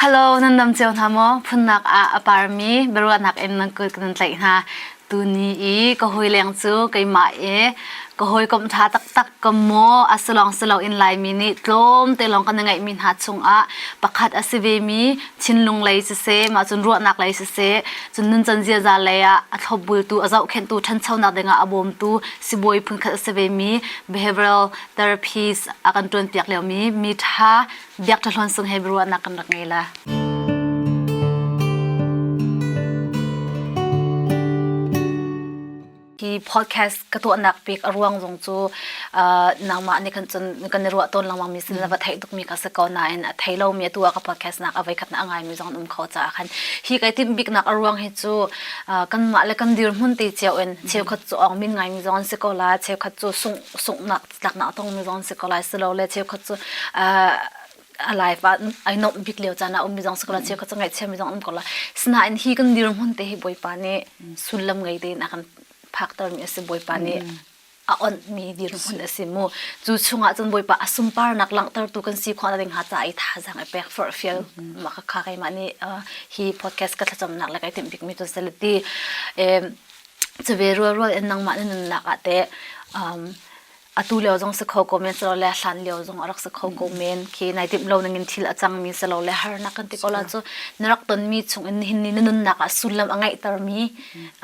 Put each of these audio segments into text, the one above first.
Hello nan nam ceo hna maw phunnak ah a parmi biaruahnak in nan kul kan tlaih hna tuni i ka hoi leng cu keimah i ka hoi kom tha taktak ka maw asulong sulo in laimi nih tlawm te lawng kan ngeihmi hna chungah pakhat a si ve mi Chinlung lei si se mah cun ruahnak lei si se cun nun chan ziaza lei ah a thlopbultu a zohkhenhtu ṭhanchonak dingah a bawmtu sibawi phunkhat a si ve mi behavioral therapies a kan ṭuanpiak lio mi mi ṭha Biak Ṭha Hluan Sung Hebrew ahnak kan rak ngei la. Hi podcast ka tuahnak pek a ruang zong cu uh, nangmah nih kan cun kan i ruah tawn lengmang mi sin la va thei tuk mi ka se ko na in a thei lo mi tu ka podcast nak avai khat na ngai mi zong an um kho ca khan hi kai tim bik nak a ruang hi cu uh, kan mah le kan dir mun te cheu in cheu khat chu ong min ngai mi zong an se ko la cheu khat chu sung sung nak tlaknak a tongmi zong an si ko lai si lo le cheukhat cu a life ah ai nuamh bik lio caan ah ummi zong si ko lai cheukhat cu ngaihchiami zong an um ko lai sinain hi kan dirhmun te hi bawipa nih sullam ngei tein a kan phaktermi a si bawipa nih a onhmi dirhmun a si mu cu chungah cun bawipa a sumparnak langhtertu kan si khawhna ding ha ca i thazang a pek far fial maka kha keimah nih hi podcast ka thlacamnak le kai timh bikmi tu salati Chave rualrual in nangmah na nunnak ah teh um, atu lio zong si kho ko men silo le hlan lio zong a rak si kho ko men. Khi nai timh lo ningin thil a cang mi silo le harnak kan ti ko la cu. Na rak ton mi chungin nihin ni na nunnak ah sullam a ngeihter mi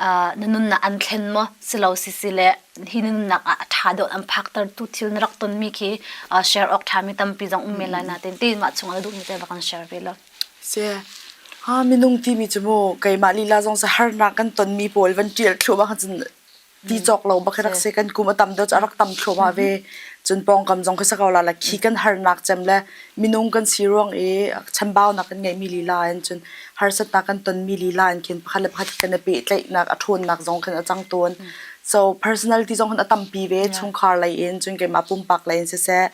uh, na nunnak an thlen maw silo sisi le hi na nunnak ah a ṭha deuh an phaktertu thil na rak ton mi khi uh, share awk ṭha mi tampi zong um men lai na tin. Ti mah chungah na duh mi te va kan share ve law. Minung timi cu maw keimah lila zong sa harnak kan tonmi pawl van ṭial thluahmah ahcun ti cawk lo bak hi rak si kan kum a tam deuh cu a rak tam thluahmah ve. Cun pawngkam zong khi sa ko la la khi kan harnak cem le minung kan si ruang i chambaunak kan ngeihmi lila in cun harsatnak kan tonmi lila in khin pakhat le pakhat kan i pehtlaihnak a ṭhawnnak zong khin a cang tawn. So personality zong khin a tampi ve chungkhar lei in cun keimah pumpak lei in siseh,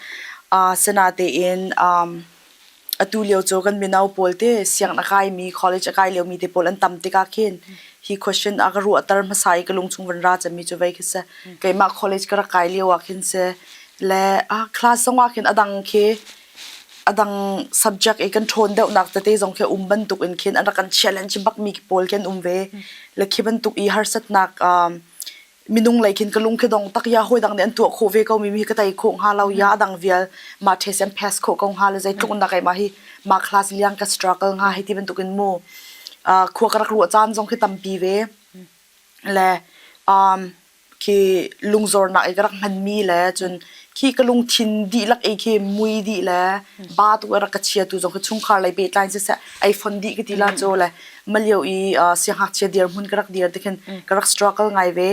asinatein atu lio cu kan mino pawl te sianginn a kaimi college a kai liomi te pawl an tam tikah khin hi question a ka ruahter hmasa i ka lungchung van ra cemmi cu vei khi si keimah college ka rak kai lio ah khin si le a class zong ah khin a dang khi a dang subject i kan ṭhawn deuhnak tete zong khi um bantuk in khin an rak kan challenge bak mi pawl khin um ve le khi bantuk i harsatnak um minung lei khin ka lung khi dong tak ya hawi dang nih an tuah khawh ve ko mi hi ka tei khawh hnga lo ya adang vial ma thes an pass khawh ko hnga lo zei tluk nak ai ma hi ma class liang ka struggle hnga hi ti bantuk in mu uh, khua ka rak ruah caan zong khi tampi ve le um khi lungzor nak i ka rak hman mi le cun khi ka lungthin dihlak ei khi mui dih le ba tuk a rak ka chia tu zong khi chungkhar lei pehtlai siseh ai fon dih ka ti la cho le malio i siangngakchia dirhmun ka rak dir tikhin ka rak struggle ngai ve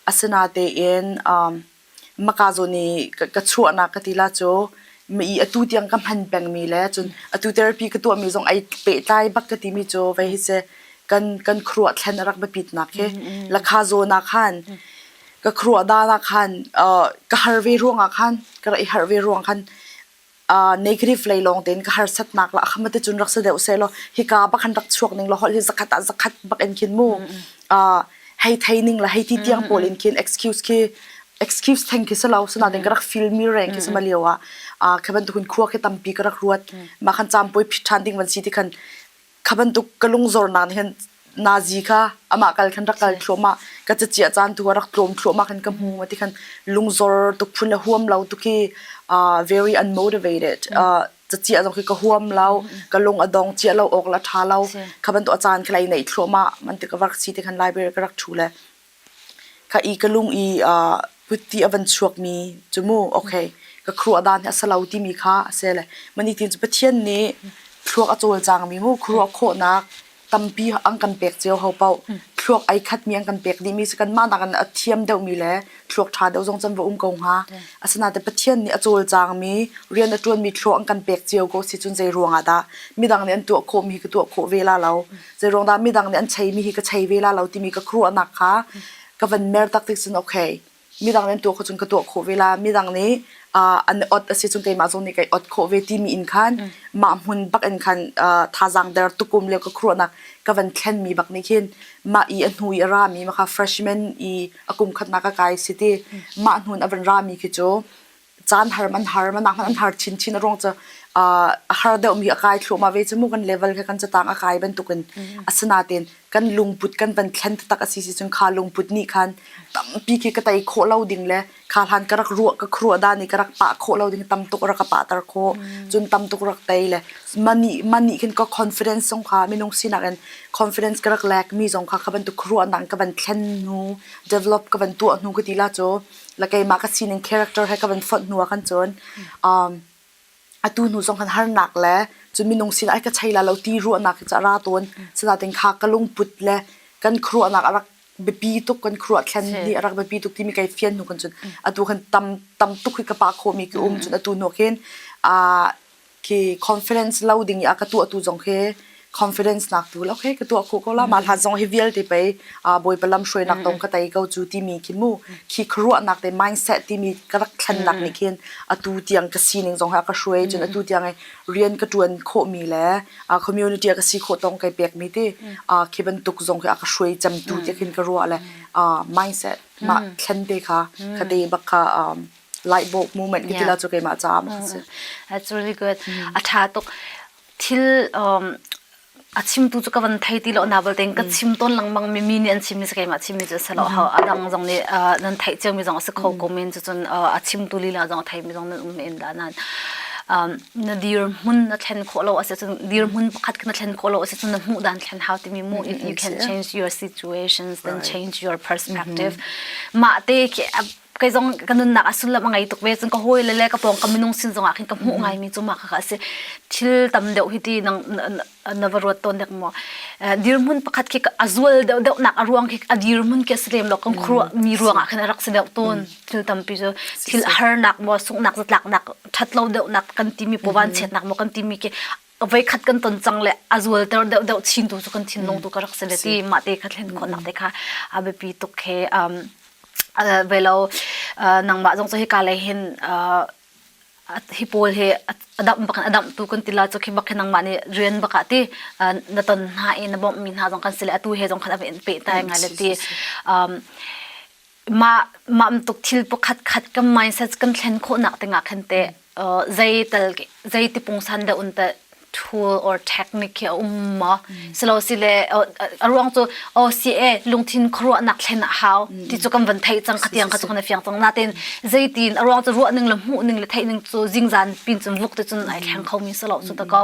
asina tein maka zawn i ka chuahnak ka ti la cho mi atu tiang ka hman pengmi le cun atu therapy ka tuahmi zong ai pehtlai bak ka timi cho ve hi se kan kan khuruah thlen a rak biapitnak hi lakha zawn ah khan ka kruah dan ah khan uh, ka har ve ruang ah khan ka rak i harh ve ruang khan uh, negative lei lawng tein ka harsat nak la akhama te chun rak sa deuh se lo hika bakhan rak chuak ning lo hol hi zakhat a zakhat bak en khin mu uh, hei thei ning la hei ti tiang pol in khin excuse khi excuse theng khi selo suna den ka rak feel mi reng khi sama liawa a khaban tu hun khua khi tampi ka rak ruat ma khan cham poi phit than ding van si ti khan kha bantuk ka lungzornak nih khan nazi kha amah kal khan rak kal thluahmah ka cachia caan tu rak tlawm thluahmah khan ka hmu ma ti khan lungzor tuk phun le huam lo tuk hi uh, very unmotivated uh, cachia zong khi ka huam lo ka lung a dong chia lo ok la tha lo kha bantuk a caan khlai nei thluahmah man ti ka vak si ti khan library ka rak thu le Ka i ka lung i uh, putti a van chuakmi cu mu, okay, ka khua dan hi a si lo timi kha a si le. Mah nitin cu Pathian nih thluak a cawlcangmi mu, khuaruah khawhnak tampi an kan pek cio hau paoh. Thluak ai khatmi an kan pek dihmi si, kanmah nak in a thiam deuhmi le thluak ṭha deuh zong cun va um ko hnga. Asinain Pathian nih a cawlcangmi, rian a ṭuanmi thluak an kan pek cio ko si cun zei ruangah dah midang nih an tuah khawhmi hi ka tuah khawh ve la lo. Zeiruang dah midang nih an chei mi hi ka chei ve la lo timi ka khuaruahnak kha ka van mer tak tik cun okay midang nih an tuah kho cun ka tuah khawh ve la midang nih uh, an ot a si cun keimah zong nih kai ot khawh ve timi in khan mm. mah hmun bak in khan uh, thazang der tukum le ka khruanak ka van thlen mi bak ni khin ma i a hnu i a ra mi ma kha freshman i a kum khat na ka kai si ti mm. mah hnun a van ra mi khi chu caan har man har man an har chin chin a ruang cu a har deuh mi a kai thluam a ve chu mu kan level ke kan chatang a kai bantuk in asina ten kan lungput kan van thlen tak asi si chun kha lungput ni khan tampi ke ka tai kho lo ding le kha hlan ka rak ruwa ka khruwa da ni ka rak pa kho lo ding tam tuk rak pa tar kho chun tam tuk rak tai le mani mani khin ko confidence song kha minung sinak in confidence ka rak lek mi zong kha ka ban tu khruwa nang ka ban thlen nu develop ka ban tu nu ka ti la cho la keimah ka sining character he ka van fonh hnu ah kan cun um atu hnu zong kan harnak le cu minung sin ai ka chei la lo ti ruahnak hi cu a ra tawn sinain kha ka lungput le kan khuaruahnak a rak biapi tuk kan khuaruah thlen nih a rak biapi tuk timi kai fian hnu kan cun atu kan tam tam tuk hi ka pa khomi ki um cun atu nok hin uh ki confidence lo ding i a ka tuah tu zong he confidence nak tu lo he ka tuah khu ko la ma hlat zong hi vialte pe a boi palam hruai nak tong ka tai ko chu ti mi khi mu khi khruwa nak te mindset ti mi ka rak thlan nak ni khin atu tiang ka sining zong ha ka hruai chun atu tiang ai rian ka tuan kho mi le a community ka si kho tong kai pek mi ti a khi ban tuk zong hi a ka hruai cham tu te khin ka ruwa le a mindset ma thlan te kha ka te bak kha Light bulb movement ki tila chu keimah caah a si. That's really good. A tha tuk. Thil um a chim tu chu ka van thei ti lo na bal ten ka chim ton langmang mi mi nih an chim mi se keimah chim mi cu selo ha adang zong nih nan theih cio mi zong a si kho ko men chu cun a chim tu lila zong thei mi zong nan um in da nan na dir hmun na thlen khawh lo asi cun dir hmun pakhat na thlen khawh lo asi cun na hmuh dan thlen hau timi mu if you can change your situations then change your perspective mah te ke kei zong ka nunnak a sullam a ngei tuk ve cun ka hawi le le ka pawng ka minung sin zongah khin ka hmuh ngai mi cu ma kha asi thil tam deuh hi ti nang na va ruat tawn dek maw dirhmun pakhat khi a zual deuh deuh nak a ruang khi a dirhmun ke si lem lo kan khru mi ruangah khin a rak si deuh tawn thil tampi cu thil a har nak maw sungnak zatlak nak that lo deuh nak kan ti mi po van chet nak maw kan ti mi ke voikhat kan ton cang le a zualter deuhdeuh chin tu cu kan thinlung tu ka rak si le ti mah te kha thlen khawhnak te kha a biapi tuk he um velo nangmah zong cu hika lei hin hi pawl hi adamh bak in adamh tu kan ti la cu khi bak hi nangmah nih rian bak ah ti na ton hna i na bawmh mi hna zong kan si le atu he zong khan a in peh tai ngai le ti mah mamtuk thil pakhat khat kan mindset kan thlen khawhnak dingah khan te uh, zei tal zei tipung san da un ta tool or technique a um mo silo si le a ruang chu o si e lungthin khruwa nak thlen a hau ti chu kan van thai chang khatiang kha chu kan fiang chang na ten zeitin a ruang chu ruah ning le mu ning le thai ning chu jing zan pin chun luk te chun ai theng kho mi selo chu ta ko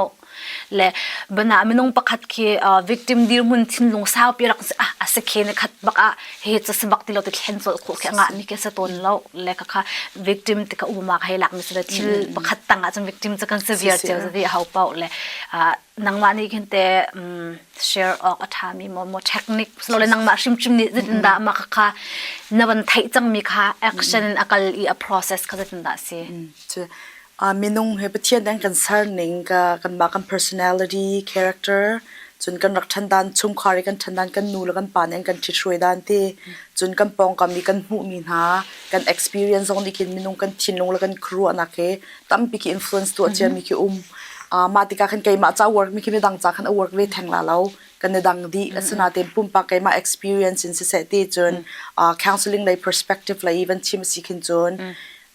le bana minung pakhat khi victim dirmun thinlung saupi rak a se khe ne khat bak a he cha sabak ti lo ti thlen so kho khe nga ni ke sa ton lo le ka kha victim ti ka u ma khai lak ni se thil pakhat tanga chum victim cha kan severe cheu di hau pau le nangma ni khin te share ok atha mi mo mo technique so le nangma shim chim ni zin da ma kha na ban thai chang mi kha action akal i a process kha zin da si Minung he Pathian an kan serning kanmah kan personality, character, cun kan rak ṭhandan, chungkhar i kan ṭhandan, kan nu le kan pa nih an kan ṭhit hruai dan ti. Cun kan pawngkam i kan hmuhmi hna kan experience zong nih khin minung kan thinlung le kan khuaruahnak hi tampi khi influence tuah ciami khi um. mah tikah khan keimah ca work mi khi midang ca khan a work ve theng la lo kan i dang dih asinain pumpak keimah experience in siseh ti cun counseling lei perspective lei even thim a si khin cun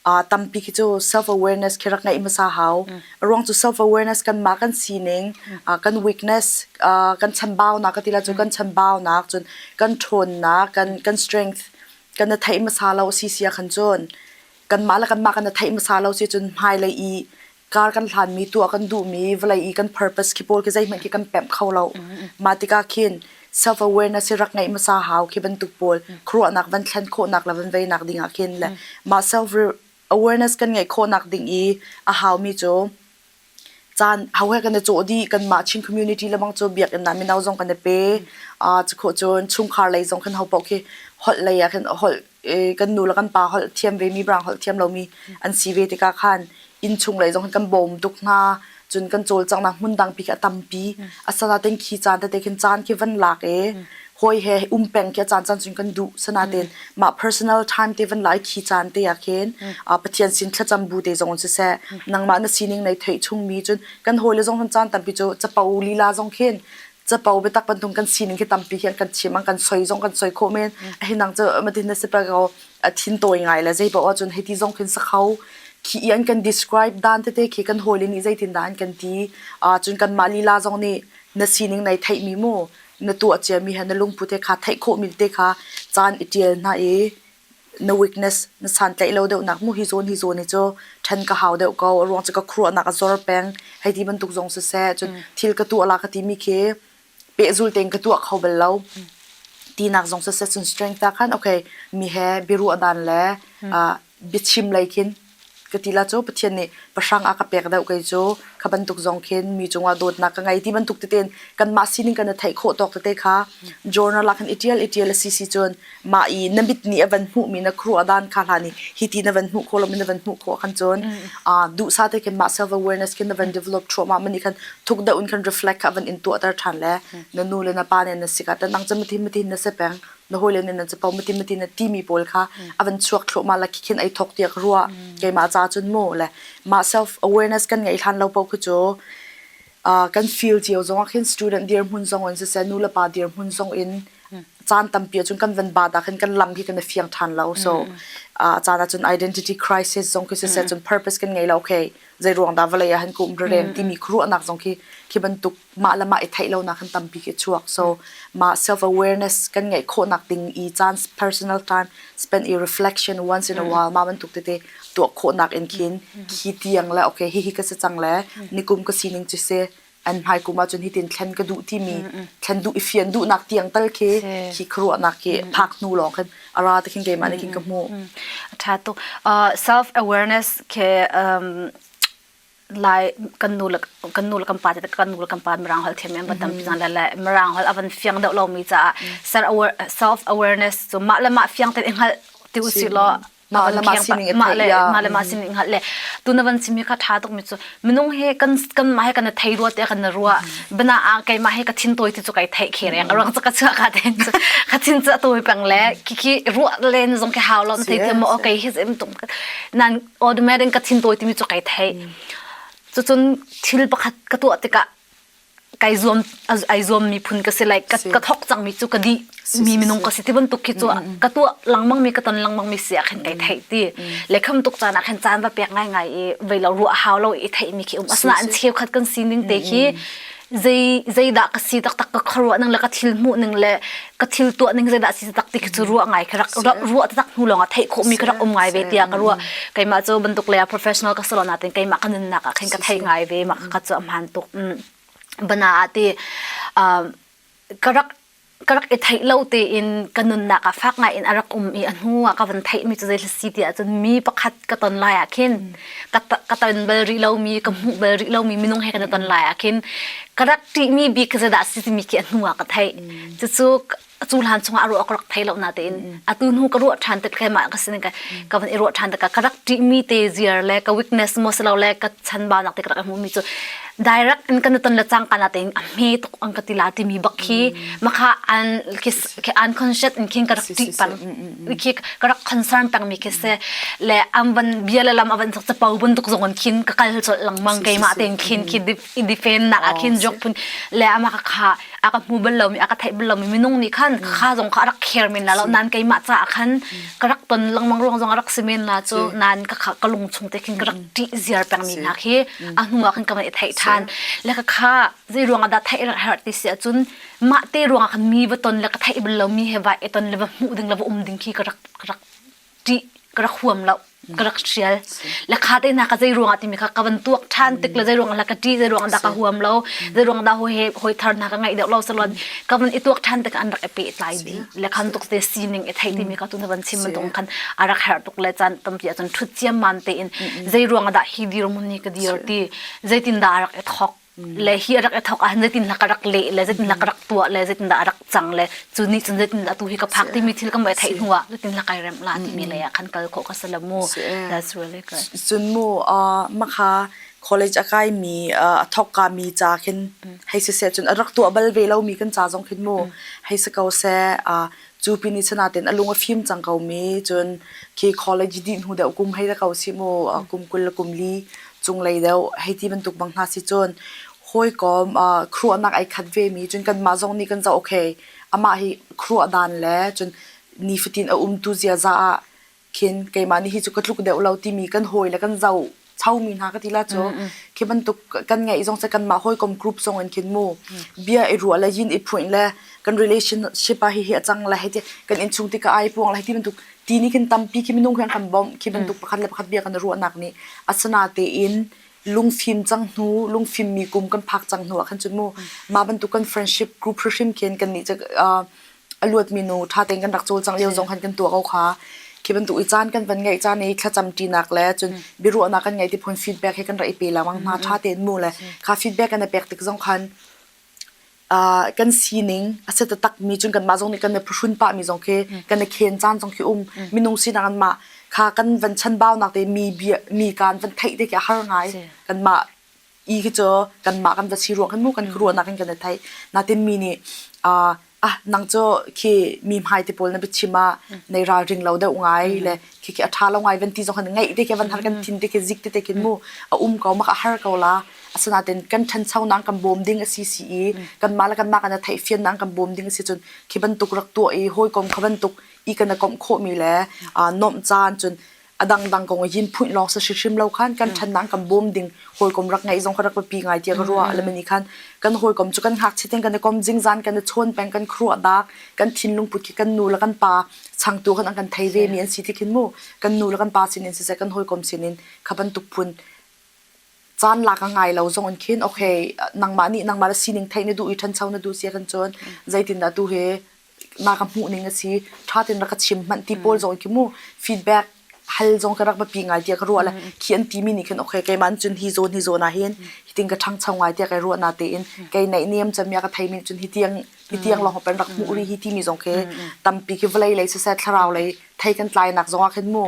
Uh, tampi khi cu self awareness khi rak ngeih hmasa hau. A ruang cu self awareness kan ma kan sining, uh, kan weakness, uh, kan chambaunak ka tila cu kan chambaunak cun kan ṭhawnnak, kan kan strength kan na theih hmasa lo si sia khan cun kanmah le kanmah kan na theih hmasa lo si cun hmailei i car kan hlanmi tu a kan duhmi vawlei i kan purpose khi pawl khi zeihmanh khi kan pemh kho lo mah tikah khin self awareness hi rak ngeih hmasa hau khi bantuk pawl khuaruahnak van thlen khawhnak le van veinak ding ah khin le mah self awareness kan ngeih khawhnak ding i a haumi cu caan hau he kan i cawh dih kan mah Chin community le mang cu biakinn na mino zong kan i pe a cikho cun chungkhar lei zong kan ho paoh khi holh lei ah khin holh eh, kan nu le kan pa holh thiam ve mi brang holh thiam lomi an si ve tikah khan inn chung lei zong hin kan bawm tuk hna cun kan cawlcanghnak hmun dang pi khi a tampi a sana ten khi caan tete khin caan khi van lak e hoi he um peng khi a caan caan sun kan duh sana ten mah personal time te van lai khi caan te a khen a pathian sin thlacam bu te zong si se nangmah na sining nei thei chung mi cun kan hoi le zong hun caan tampi cu chapo lila zong khin capo biatak bantung kan sining khi tampi hi an kan chim an kan soi zong kan soi khawh men a hin nang cu matin na sipra ko thin tawi ngai le zei ba wa cun heti zong khin sakhau khi i an kan describe dan tete khi kan holi ni zeitin da an kan ti a cun kan ma lila zong ni na sining nei thei mi mu na tu a chia mi ha na lungpute kha thei kho mil te kha chan i tial na e na weakness na santlaih lo deuhnak mu hi zawn hi zawn hi cu ṭhen ka hau deuh ko a ruang cu ka khuaruahnak a zor peng hei ti bantuk zong siseh cun thil ka tuah la ka timi khi pehzul tein ka tuah kho bal lo tinak zong siseh cun strength ah khan okay mi he biaruah dan le biachim lei khin Ka ti la cu Pathian nih pahrang a ka pek deuh kei cu kha bantuk zong khin mi cungah dawtnak ka ngei ti bantuk tete in kanmah sining kan i theih khawh tawk tete kha journal ah khan i ṭial i ṭial a si si cun mah i na mit nih a van hmuhmi na khuaruahdan kha hlan i hi ti na van hmuh khawh lomi na van hmuh khawh khan cun aa duhsah te khin mah self awareness khin na van develop thluahmah man nih khan thuk deuh in khan reflect kha van in tuahter ṭhan le na nu le na pa nih na si ka tan ang cem mathi mathi na si peng na hawile nih nan capo mati mati na timi pawl kha a van chuak thluahmah la khi ai thok tiak rua keimah ca cun mu le mah self awareness kan ngei hlan lo po khu cu kan feel cio zong ah khin student dir hmun zong in siseh nu le pa dir hmun zong in caan tampia cun kan van ba da khin kan lam hi kan fiang than lo so caan cun identity crisis zong khi siseh cun purpose kan ngei lo okay zai ruang da valai han kum rereng timi khruanak zong khi khi bantuk mah le mah i theih lonak kan tampi khi chuak so ma self awareness kan ngeih khawhnak ding i caan personal time spend i reflection once in a while ma bantuk tete tuah khawhnak in khin khi tiang le okay hi hi ka se chang le nikum ka sining chu se an hmai kuma chun hitin thlen ka duh ti mi thlen duh i fian duh nak tiang tal khi khi khruwa nak ki phak hnu long khan ara te khin ke ma ne kin ka mu tha to self awareness ke um lai kan nu le kan nu le kan pa te kan nu le kan pa mirang hol them em ba tam zan la la mirang hol avan fiang deuh lo mi ca self self awareness so ma le ma fiang te ngal ti u si lo ma le ma sining ma le ma le ma sining ngal le tu na van simi ka tha tuk mi chu minung he kan kan ma he kan thei ruwa te kan na ruwa bana a kai ma he ka thin toy ti chu kai thei khe reng rang cha ka cha ka den ka thin cha toy pang le ki ki ruwa len zong ke haw lo thei te mo okay his em tum nan automatic ka thin tawi timi cu kai thei cucun thil pakhat ka tuah tikah kai zuam ai zuam mi phun ka si like ka, ka thok cang mi cu ka di mi minung ka si ti bantuk khi cu ka tuah langmang mi ka ton langmang mi sia khin kai thei ti le kham tuk caan ah khin caan va pek ngai ngai i vei lo ruah hau lo i thei mi khi um asna an cheu khat kan sining te khi zei zeidah ka si taktak ka khuaruah ning le ka thil hmuh ning le ka thil tuah ning zeidah si takti khi cu ruah ngai ka rak ruah tak hnu lawng ah theih khawh mi ka rak um ngai ve tiah ka ruah keimah cu bantuk le professional ka salo natin keimah ka nunnak ah khin ka theih ngai ve ma ka cu a hman tuk bana ati ka rak ka rak i theih lo tein ka nunnak ah fak ngai in a rak um i a hnu ah ka van theih mi cu zei si ti ahcun mi pakhat ka ton lai ah khin ka ka ton bal rih lomi ka hmuh bal rih lomi minung he kan i ton lai ah khin ka rak ṭih mi bik zei dah si timi khi a hnu ah ka theih cucu cu hlan chung ah a ruah ka rak thei lo na tein a tu hnu ka ruah ṭhan te kai mah ka sin ka ka van i ruah ṭhan te ka rak ṭih mi te ziar le ka weakness mo silo le ka chan ba nak te ka rak hmu mi cu direct in kan ton le chang kana te a hme tuk an ka tila timi bak khi makha an ki unconscious in khin ka rak ti pan khi ka rak concern pang mi khi se le am ban bia le lam avan sak cha pau bun tuk zong an khin ka kal chol lang mang ke ma ten khin khi i defend na a khin jok pun le ama ka kha aka mu bal lo mi aka thai bal lo mi minung ni khan kha zong kha rak care min la lo nan ke ma cha khan ka rak ton lang mang ruang zong rak simen la cho nan ka ka lung chung te khin ka rak ti ziar pang mi na khi a hnu ah khan ka van i theih ṭhan le ka kha zei ruangah dah theih a har ti si ahcun mah te ruangah khan mi va ton le ka theih bal lomi he vai i ton le va hmuh ding le va um ding khi ka rak ka rak ṭih ka rak huam lo ka rak hrial le kha te na ka zei ruangah timi kha ka van tuak ṭhan tik le zei ruangah la ka ṭi zei ruangah dah ka huam lo zei ruangah dah ho he hoi thar na ka ngaih deuh lo salon ka van i tuak ṭhan te an rak i peh tlai ding le khan tuk te sining e thei timi ka tu na van chim tung khan arak her tuk le chan tampi a chun thut chiam man te in zei ruang ah dah hi dir mun ni ka dir ti zeitin da arak e thok le hi arak e thok an zeitin lak arak le le zeitin lak arak tua le zeitin da arak chang le chu ni chun zeitin atu hi ka phak ti mi thil ka mai thei hnuwa zeitin lak ai rem la ti mi le khan kal kho ka salamu that's really good chun mu a makha college a kaimi uh, a thawkkami ca khin hei siseh cun a rak tuah bal ve lomi kan ca zong khin mu hei si ko seh uh, cu pin i sanaten a lung a fim cang komi cun khi college dih hnu deuh kum hei ra ko si mu uh, kum kul le kum li cunglei deuh hei ti bantuk bang hna si cun hawi kom uh, kruahnak ai khat ve mi cun kan mah zong nih kan za okay amah hi kruah dan le cun nifatin a um tu ziaza ah khin keimah nih hi cu ka tluk deuh lo timi kan hawi le kan zoh chomi hna ka ti la cu khi bantuk kan ngeih zong se kanmah hawikom group zong in khin mu bia i ruah le yin i phuin le kan relationship ah hihi a cang le hiti kan inn chung tikah ai puang le hiti bantuk ti nih khin tampi khi minung khi an kan bawmh khi bantuk pakhat le pakhat bia kan ruahnak nih asana tein lungfim cang hnu lungfim mi kum kan phak cang hnu ah khan cun mu mah bantuk kan friendship group hrim khin kan nih a luatmi nu ṭha tein kan rak cawl cang lio zong khan kan tuah ko kha. Khi bantuk i caan kan van ngeih caan i thlacam ṭinak le cun biaruahnak kan ngeih ti phun feedback he kan ra i pe lengmang hna. Ṭha tein mu le kha feedback kan i pek tik zong khan uh, kan sining a set takmi cun kanmah zong nih kan i phuhrun pahmi zong khi kan i khen caan zong khi um minung sinak an mah kha kan van chanbaunak te mi bia mi kaan van theih te khi a har ngai kanmah i khi cu kanmah kan va si ruang khan mu kan ruahnak in kan i theih natin mi nih uh, ah nang cu khi mi hmai te pawl na biachim ah nei ralring lo deuh ngai le khi khi a tha lo ngai van ti zong kan ngaih te ke van har kan thin te ke zik te te kin mu a um ko mak a har ko la asanaten kan than sau nang kan bom ding asi si i kan ma la kan ma kan a thei fian nang kan bom ding si chun khi bantuk rak to i hoi kom kha bantuk i kan a kom kho mi le nom chan chun a dangdang kong i phuin lawng sa hrim lo khan kan thanang kan bawm ding hawikom rak ngeih zong rak pi ngai tia ka ruwa alamani khan kan hawikom chu kan hak chiten kan kom jingzan kan chon peng kan khruwa dak kan thinlung put ki kan nu la kan pa chang tu kan kan thai ve mi an si tikin mu kan nu la kan pa sinin se kan hawikom sinin khaban tukpun chan la ka ngai lo zong khin okay nangma ni nangma la sining thai ne du i than chau na du sia kan chon zaitin da tu he na ka hmuh ning a si ṭha ten rak ka chim hmanh ti pawl zong khi mu feedback hal zong ka rak pi ngai tiah ka ruah le khi an ti mi nih khin okay keiman cun hi zawn hi zawn ah hin hi ting ka ṭhangcho ngai tiah kai ruah na tein kai naih niam chamia ka thei min cun hi tiang hi tiang lawng pen rak hmuh ri hi ti mi zong khi tampi khi vlei lei siseh thlarau lei thei kan tlainak zong ah khin mu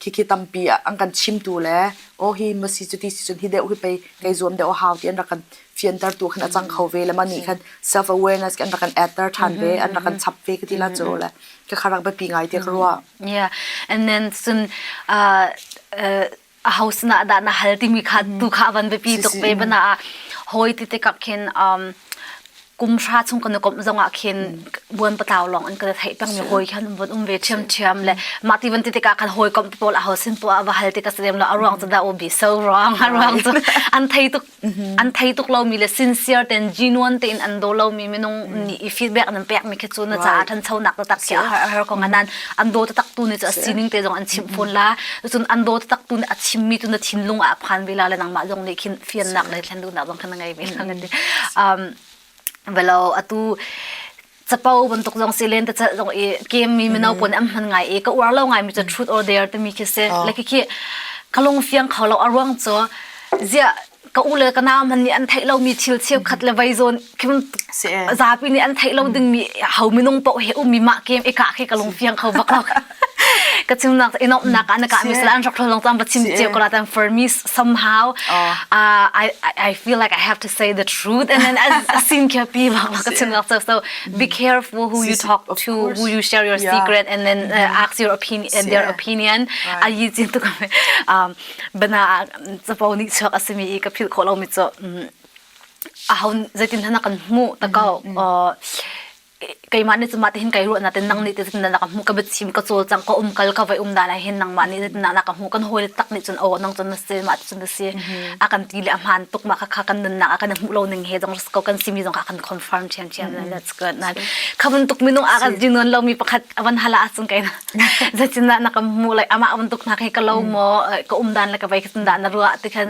khikhi tampi an kan chimtu le oh hi masi cu ti si cun hi deu hi pei kei zuam deu hau ti an rak kan fianter tu khin a cang kho ve le ma nih khan self awareness kan rak kan atter than ve an rak kan chap ve ka ti la chu le ka kharak ba pi ngai te ka ruwa yeah and then sun uh, uh, a house na da na hal timi kha tu kha van biapi tuk ve bana a hoi ti te kap khin um kum sha chung kan kom zong ah khin buan patlaw long an kan thai pang ni hoi khan bon um ve chiam chiam le ma ti van ti te ka kan hoi kom to la ho sin to a va hal ti ka sedem lo a ruang cha da o bi so wrong a ruang chu an thai tuk an thei tuk lomi le sincere ten genuine tein an do lomi minung nih i feedback nan pek mi khi cu na caah than cho nak tak ki a har har ko nan an do tatak tu ne chu a sining te zong an chim phun la cun an do tatak tu ne a chim mi tu na thinlung ah phan ve la le nangmah zong nih khin fian nak le thlen du nak zong khan ngei ve la ngati um velo atu capo bantuk zong si len ta chat zong i game mi mino pon am hman ngai i ka uar lo ngai mi chu truth or dare timi khi se le khi khi kalung fiang kho lo aruang chu zia ka u le ka na man ni an thei lo mi thil cheu khat le vai zon kim zapi ni an thei lo ding mi hau minung po he um mi ma game eka khi kalung fiang kho bak lo ka chim nak i nok nak an ka mi sala an rak thlong tam ba chim che ko la tan for me somehow uh, I I feel like I have to say the truth and then a sin ke pi ba ka chim nak so be careful who you talk to who you share your secret and then uh, ask your opinion and their opinion a yi jin tu ka um bana chapo ni chak asimi i ka phil kho lo mi cho a hon zetin thana kan mu ta ko keimah nih cumah tihin kai ruahna ten nang nih titin na ka hmu ka biachim ka cawl cang ka um kal ka vai um da lai hin nangmah nih titin na ka hmu kan hawl tak nih cun o nang cun na si mah cun na si a kan ti le a hmaan tuk ma kha kan nun nak a kan hmu lo ning he jong ko kan simi jong ka kan confirm thian thian that's good na khamun tuk minung a kan jinon lo mi pakhat avan hala asung kai na zachin na na ka hmu lai ama avan tuk na kai ka lo mo ka um dan la ka vai kan dan na ruwa ti khan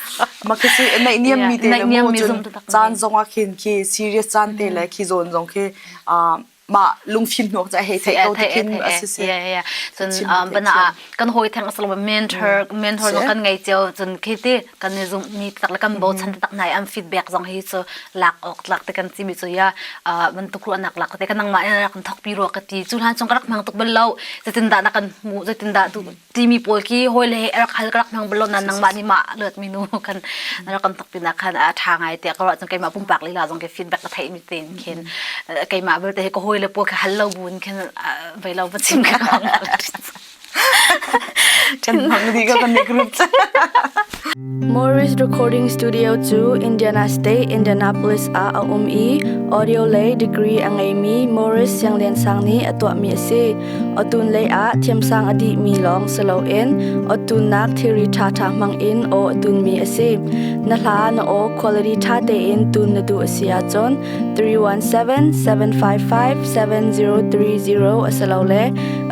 Makhi a naihniammi te le maw cun caan zongah khin khi serious caan te le khi zawn zong khi mah lungfim hnawk ca hei theih ko tikhin a si se. Bana kan hoi theng asal ba mentor mentor no kan ngai cio cun khi ti kan ni zum ni tak le kan bo chan tak nai am feedback zong hi chu lak ok lak te kan ti mi chu ya ban tu khru anak lak te kan nang ma na kan thok pi ro ka ti chu han chong ka rak mang tuk bel lo zetin da na kan mu zetin da tu timi pawl khi hawi le he rak hal ka rak hmang bal lo na nangmah nih mah luat mi nu kan rak kan tuk pinah khan a ṭha ngai tiah ka ruah cun keimah pumpak lila zong ke feedback ka theih mi tein khin keimah belte he ka hawi le pawl ka hal lo buin khin vai lo va chim ka kan mang dih ka kan group Morris Recording Studio cu Indiana State, Indianapolis ah a um i audio lei degree a ngeimi Morris Siangliansang nih a tuahmi a si. Otun lei ah thiamsang a dihmi lawng si loin ottunnak thilri ṭhaṭha hmang in aw a tunmi a si. Na hla na aw quality ṭha tein tun na duh a si ahcun 317-755-7030 a si lo le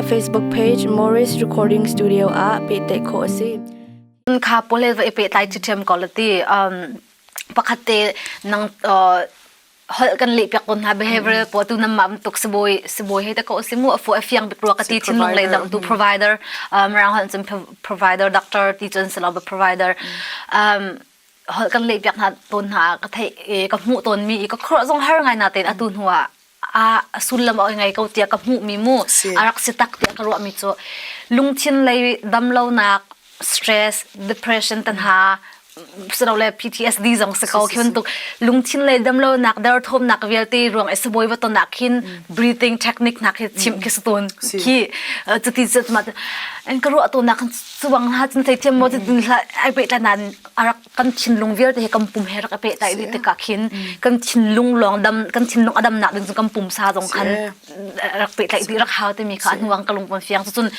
a Facebook page Morris Recording Studio ah pehtlaih khawh a si. kha polel va i pehtlai cu ṭhiam ko la ti um pakhat te nang holh kan leh piak ko hna behavioral po tu nam ma tuk sibawi sibawi he ta ko si mu afu afiang bik ruwa ka ti thin lung lei dang tu provider um rang hon chum provider doctor ti chun selo ba provider um holh kan leh piak hna ton hna ka thei ka mu ton mi ka khro zong har ngai na ten atu hnua ah sullam a ngei ko tiah ka hmuhmi mu a rak si tak tiah ka ruahmi cu lungthin lei damlonak stress depression tanha sirole PTSD zong si ko khiun tuk lungthin lei damlonak derthawmnak vialte ruang e saboy wa tonak khin breathing technique nak hi chim khi stun khi cuti cu ma an ka ruah to nak chuang ha cin thei thiam mo din hla ai pe tlanan arak kan thinlung vialte he kan pum he rak i pehtaih rih tikah khin kan thinlung lawng dam kan thinlung a dam nak ding cun kan pumsa zong khan rak pehtaih dih rak hau timi kha a hnuang ka lung van fiang cun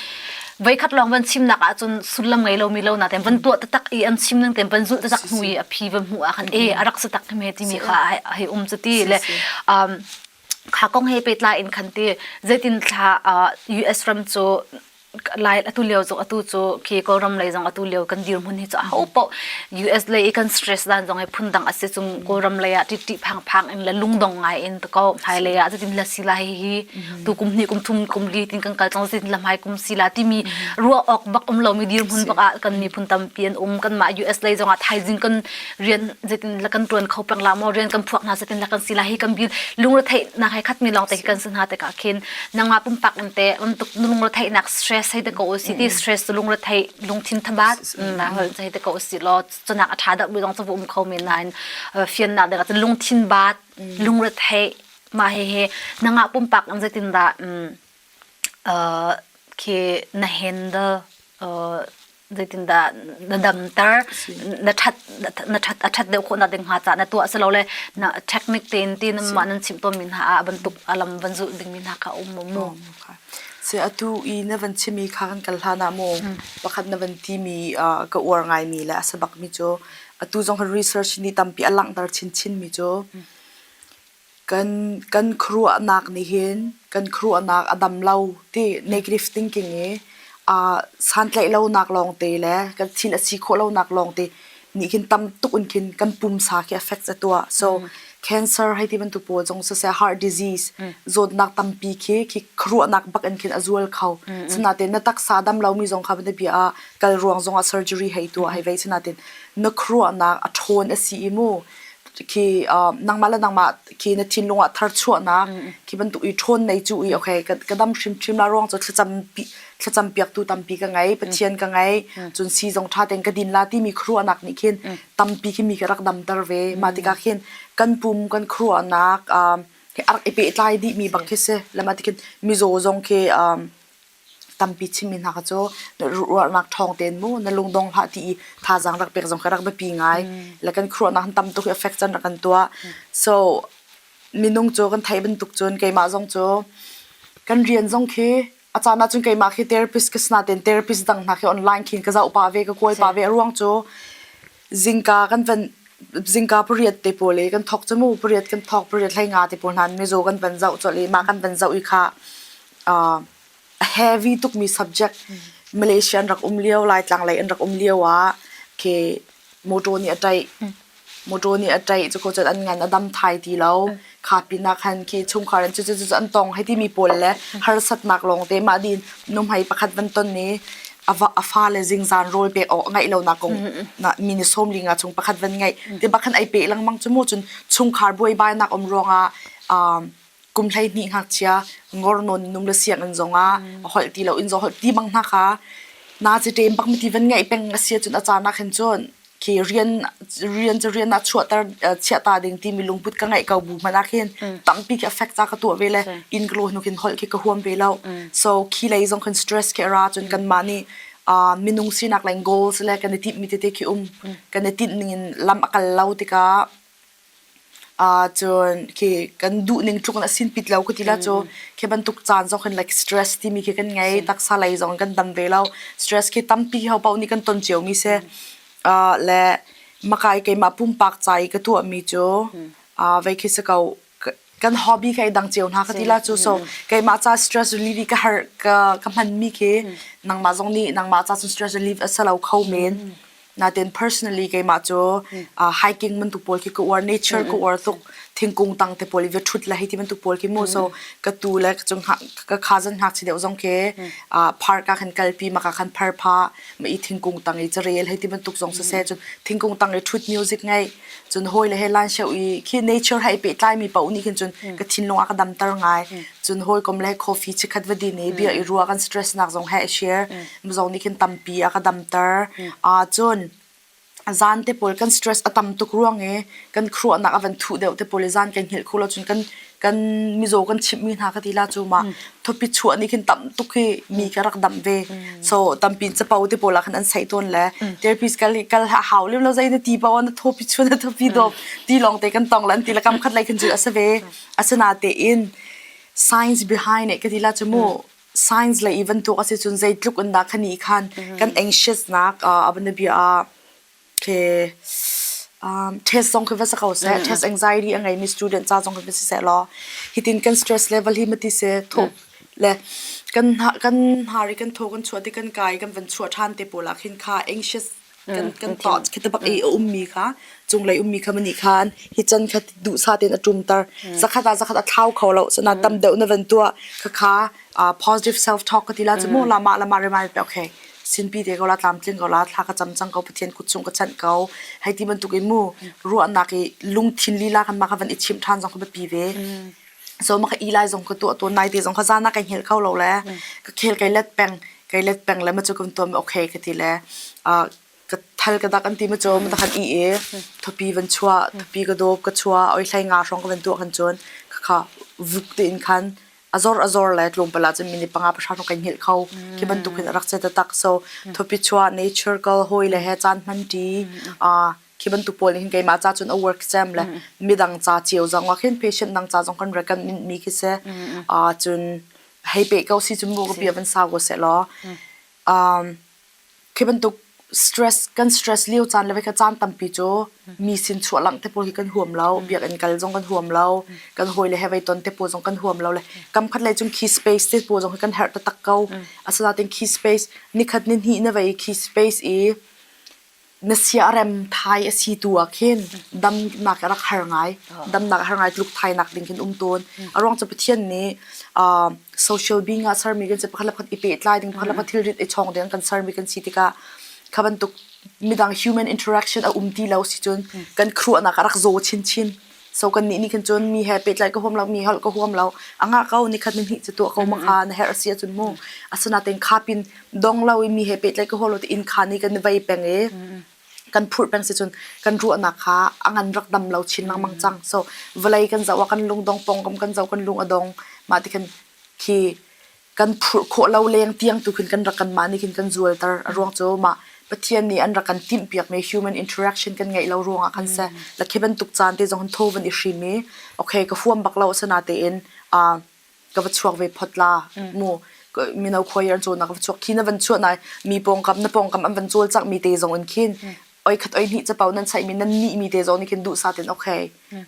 voikhat lawng van chimnak ah cun sullam ngei lomi lo na tem van tuah tatak i an chim nan tem van zulh tatak hnu i a phi van hmu ah khan e a rak sa tak me timi kha hei um cu ti le kha kong he pehtlai in khan ti zeitin thla US ram cu lai atu lio zong atu cu khi kawlram lei zong atu lio kan dirhmun hi cu a ho poh US lei i kan stress dan zong ai phun dang asi chung kawlram lei ah ṭiṭi phang phang in le lungdong ngai in to ko hmai lei ah zatin la sila hi hi tu kum hnih kum thum kum li tin kan kal tlong zatin la hmai kum sila timi ruah awk bak um lomi dirhmun bak ah kan miphun tampi an um kan mah US lei zong ah thaizing kan rian zetin la kan tuan kho pang la mo rian kan phuak hna zetin la kan si la hi kan bil lungre thei na hai khat mi long te kan sun ha te ka khin nangma pumpak in te on tuk lungre thei nak stress hai de ko si ti stress lungre thei lung thin thaba na hol thei de ko si lo chonak atha da bi long chu um kho min nain fian na de ka lung thin bat lungre thei ma he he nanga pumpak in zetin da khi na handle zeitindah na damter na ṭhat na ṭhat a ṭhat deuh khawhnak ding hnga cah na tuah silole na technique tein ti nanmah nan chimh tawnmi hna ah bantuk a lam van zulh dingmi hna kha a um maw mu? Sɛ atu i na van chimmi kha kan kal hlan ah maw pakhat na van timi ka uar ngaimi le a sabakmi cu atu zong kan research ni tampi a langhter chinchinmi cu kan khuaruahnak nih hin kan khuaruahnak a dam lo ti negative thinking i aa santlaih lonak lawngte le kan thin a si khawh lonak lawngte nih khin tam tuk in khin kan pumsa khi affect a tuah so mm. cancer hei ti bantu pawl zong so say heart disease mm. zawtnak tampi khi khi khuaruahnak bak in khin a zual kho mm, sinatin na taksa dam lomi zong kha bia bia kal ruang zong a surgery hei tuah hei vei sinatin na khuaruahnak a ṭhawn a si i mu khi uh, nangmah le nangmah khi na thinlung ah tharchuahnak khi bantuk i ṭhawn nei cu i okay ka, ka dam hrim hrim la ruang cu thlacam thlacam piak tu tampi ka ngei pathian ka ngei cun si zong ṭha ten ka din la ti mi khruanak nih khin tampi khi mi ka rak dam ter ve ma tikah khin kan pum kan khruanak uh, he arak i pe tlai dih mi bang khi se lama tikhin mizaw zong khi um, Tampi chimmi hna kha cu ruahnak ṭhawng tein mu na lungdong hlah ti i thazaang rak pek zong kha rak biapi ngai. Le kan khuaruahnak han tam tuk hi affect can rak kan tuah. So minung cu kan theih bantuk cun keimah zong cu kan rian zong khi a caan ahcun keimah khi therapist ka si nain therapist dang hna khi online khin ka zoh pah ve ka kawl pah ve. A ruang cu zingka kan van zingka pariat te pawl i kan thawk cu mu pariat kan thawk pariat hlei nga te pawl hna in mizaw kan van zoh colh i mah kan van zoh i khah uh, a heavy tukmi subject Malaysia an rak um lio Laitlang lei an rak um lio ah ke motor nih a taih motor nih a taih cu kho cun an ngan a dam thai ti lo kha pinah khan ke chungkhar an cu cu cu an tong hai timi pawl le harsatnak lawng te mah din nuhmei pakhat ban ton ni a va a fa le zingzan rawl pek awk a ngaih lonak kong na mi ni som linga chung pakhat van ngaih te bakhan ai pe langmang chu mu cun chungkhar buai bai nak om ruangah um kum hleihnih ngakchia ngor nawn num le siang an zong ah a holh ti lo in zo holh ti bang hna kha na chi ṭem bak mi ti van ngai peng a sia cun a caan ah khan cun ke rian rian cu rian a chuahter chiah ta ding ti mi lungput ka ngeih ko bu mana khin tampi ke affect ta ka tuah ve le in glo nu kin hol ke ka huam ve lo so khi lei zong khan stress ke ra cun kan ma ni minung sinak leng goals le kan i tip mi tete khi um kan i tin ning in lam akal lo tika Ahcun khi kan duhning tluk in a sin pit lo ka ti la cu. Khi bantuk caan zong hin like stress timi khi kan ngei. Taksa lei zong kan dam ve lo. Stress khi tampi ho paoh nih kan ton cio mi si. Ah le maka i keimah pumpak ca i ka tuahmi cu, ah vei khi si ko, kan hobby ka dang ceo hna ka ti la chu so keimah ca stress relief ka har ka ka hman mi khi nangmah zong nih nangmah ca cun stress relief asalo kho men natin personally keimah chu hiking man tu pol khi ka uar nature ka uar tuk thingkung tang te pol ve thut la hi ti man tu pol khi mo so ka tu le ka chung ka kha zan hak chi deu zong ke park ka khan kal pi ma ka khan phar pha ma i thingkung tang i cha rel hi ti man tuk zong se se chun thingkung tang i thut music ngai cun hawile he lan sheu i khi nature hai pe tlai mi pau nih khin cun ka thinlung a ka damter ngai cun hawi kom le coffee chikhat va din i bia i ruwa kan stress nak zong he share zong nih khin tampi a ka damter a cun zan te pawl kan stress a tam tuk ruang i kan khuanak a van thuh deuh te pawl i zan kan hngilh kho lo cun kan kan mizaw kan chimhmi hna ka ti la cu ma thopi chuah nih khin tam tuk hi mi ka rak damh ve so tampi capo te pawl ah khan an sai tawn le therapist kal kal hau lem lo zai na ti pa na thopi chuan na thopi dop ti long te kan tong lan ti la kam khat lai khan chu asa ve asana te in science behind it ka ti la chu mu science le even tu ka se chun zai tluk an da khani khan kan anxious nak abana bia test zong khi va si ko seh test anxiety a ngeimi student ca zong khi va si seh law hitin kan stress level hi mati se thuk le kan kan hnar i kan thaw kan chuah ti kan kai kan van chuah ṭhan te pawl ah khin kha anxious kan kan thoughts khi tabak i a ummi kha cunglei ummi kha mani khan hi chan kha duh sa ten a tumtar zakhat a zakhat a thlau kho lo sana tam deuh na van tuah khakha positive self talk ka tila chu mo lama lama remind pe okay Sinpi te ko la, tlamtling ko la, thla ka cam cang ko, Pathian kut chung ka chanh ko. Hei ti bantukin mu ruahnak i lungthin lila kan mah kha van i chimh ṭhan zong ka biapi ve. So mah ka i lai zong ka tuah tuan nai te zong ka zana kai hngel kho lo le ka khel kai let peng kai let peng le ma cu kan tuam okay ka ti le uh, ka thal ka dak an ti ma cu ma kan i e thopi van chua thopi ka dop ka chua oi thlai nga hrong ka van tuah kan chon ka kha vuk te in khan A zor a zor le tlawmpal ahcun minute panga pahra rawk kan hngilh kho. Khi bantuk hin a rak si taktak. So thupi chuah nature kal hawi le he caan hmanṭi aa khi bantuk pawl nih hin keimah ca cun a work cem le midang ca cio zong ah khin patient dang ca zong kan recommend mi khi si. Aa cun hei peh ko si cu mu ka bia van sau ko seh law. Um Khi bantuk stress kan stress lio caan le vei kha caan tampi cu mi sin chuahlangh te pawl hi kan huam lo. Biakinn kal zong kan huam lo. Kan hawi le he vei ton te pawl zong kan huam lo le kam khat lei cun key space te pawl zong hi kan herh taktak ko. Asinain key space nikhat ni hnih na vei key space i Na siarem thai a si tu ah khin damnak rak har ngai, damnak a har ngai Tuluk thainak ding khin um tawn. A ruang cu Pathian nih ah social being ah sermi kan si pakhat le pakhat i pehtlai ding pakhat le pakhat thilrit i chawng ding kan sermi kan si tikah kha bantuk midang human interaction a um ti lo si cun kan khuanak a rak zaw chinchin. So kan nih nih khin cun mi he pehtlai ka huam lo mi holh ka huam lo a ngah ko ni khat ni hnih cu tuah ko ma kha na herh si cun mu asinaten kha pin dong lo i mi he pehtlai ka huam lo ti inn kha ni kan vei peng i kan phurh peng si cun kan ruahnak kha a ngan rak dam lo chin lengmang cang so vawlei kan zoh a kan lung dong pongkam kan zoh kan lung a dong mah ti khan khi kan phurh khawh lo leng tiang tu khin kan rak kanmah nih khin kan zualter a ruang cu mah Pathian nih an rak kan timhpiak mi human interaction kan ngeih lo ruangah khan se la khi bantuk caan te zong tho van i hrim i okay ka huam bak lo asana tein a ka va chuak ve phot la mu mino khoyer an cho na ka chuak khi na van chuah nai mi pongkam na pongkam an van chol chak mi te zong in khin oikhat oihnih capo nan chaihmi nan nihmi te zong nih khin duhsah ten okay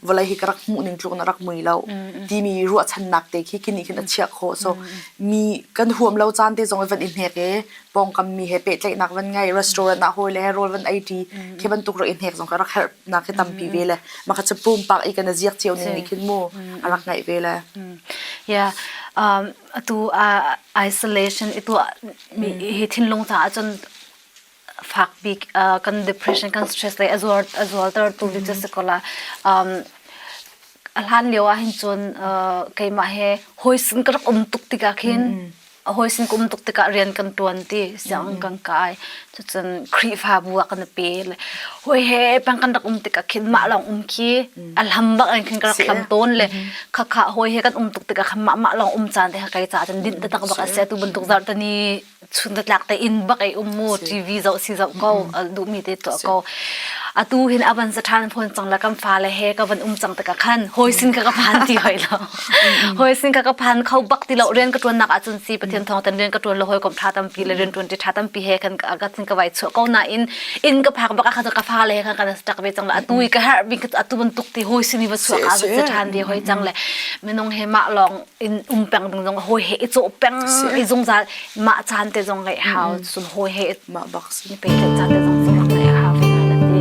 vawlei hi ka rak hmuh ning tluk na rak mui lo timi ruahchannak te khi kini khin a chiah kho so mi kan huam lo caan te zong van i hnek e pongkam mi he pehtlaihnak van ngai restaurant ah hoi le rol van ai ti khi bantuk rak i hnek zong ka rak herh na khi tampi ve le ma kha chapum pak i kana ziak chiu ning khin mu arak ngai ve le ya um atu isolation itu mi hi thinlung ta chun fak bik kan depression kan stress le a zuar a zualter tu hi cu si ko la um a hlan lio ah hin cun uh, keimah he hoisin ka rak um tuk tikah khin hoisin ka um tuk tikah rian kan tuan ti siang kan kai cucun khrihfa bu ah kan pe le hoi he pang kan rak um tikah khin mah long um khi a lam bak an khin ka rak lam ton le kha kha hoi he kan um tuk tikah khan mah mah long um chan te ha kai cha chan din te tak bak ase tu bantuk zar tani chun tlak te in bak ei um mu TV zo si zo ko du mi te to ko atu hin avan sa than phon chang la kam fa le he ka van um chang ta ka khan hoi sin ka ka phan ti hoi lo hoi sin ka ka phan khau bak ti lo rian ka tuan nak achun si pathian thong tan rian ka tuan lo hoi kom tha tam pi le rian tuan ti tha tam pi he khan ka sin ka vai chu ko na in in ka phak bak kha ka fa le kha ka stak ve chang la atu ka har bing atu ban tuk ti hoi sin ni ba chu ka sa than ve hoi chang le menong he ma long in um peng ding zong hawi he i cawh peng i zungzal mah caan te zong ngeih hau sun hawi he mah bak ni pe le caan te zong zong ngeih hau ve hana ti